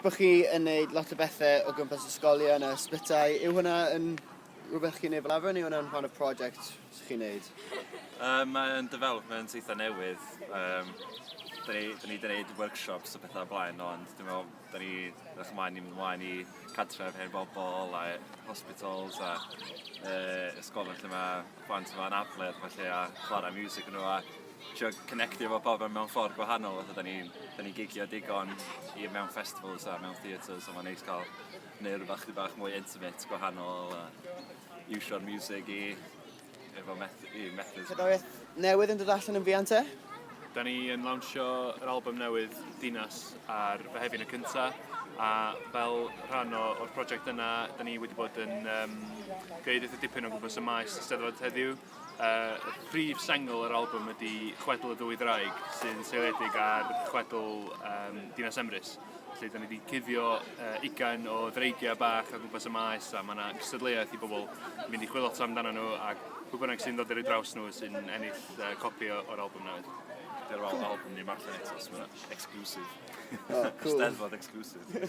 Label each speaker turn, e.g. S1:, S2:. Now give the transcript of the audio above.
S1: Bo chi yn neud lot o bethe o gwmpas ysgolion a ysbytai, yw hwnna yn rhywbeth chi'n neud fel arfer neu yw hwnna'n rhan o project sy chi'n neud? Yy mae o'n development eitha newydd, yym 'da ni 'da ni 'di neud workshops a petha o'r blaen ond dwi me'wl 'da ni edrych ymlaen i mynd ymlaen i cartref hen bobol a hospitals a yy ysgolion lle ma' plant efo anabledd a ballu a chwara miwsig yn y fan 'na. trio connectio efo pobl mewn ffordd gwahanol fatha 'dan ni'n 'dan ni'n gigio digon i mewn festivals a mewn theatres so ma'n neis ca'l neu' rwbath chydig bach mwy intimate gwahanol a iwsio'r miwsig i efo meth- i methu... Cerddoriaeth newydd yn dod allan yn fuan te? Da ni yn lawnsio yr album newydd Dinas ar Fehefin y cynta a fel rhan o o'r project yna 'dan ni wedi bod yn yym gneud eitha dipyn o gwmpas y maes Eisteddfod heddiw Y prif sengl yr albwm ydy Chwedl y Ddwy Ddraig sy'n seiliedig ar chwedl um, Dinas Emrys. Felly, da ni wedi cuddio uh, ugain o ddreigiau bach a gwmpas y maes a mae yna cystadleuaeth i bobl mynd i chwilio amdano nhw a pwy bynnag sy'n dod i'r draws nhw sy'n ennill uh, copi o'r albwm newydd. Dy'r weld albwm ni marllen eto, so mae'n exclusive. Oh, cool. Steddfod exclusive.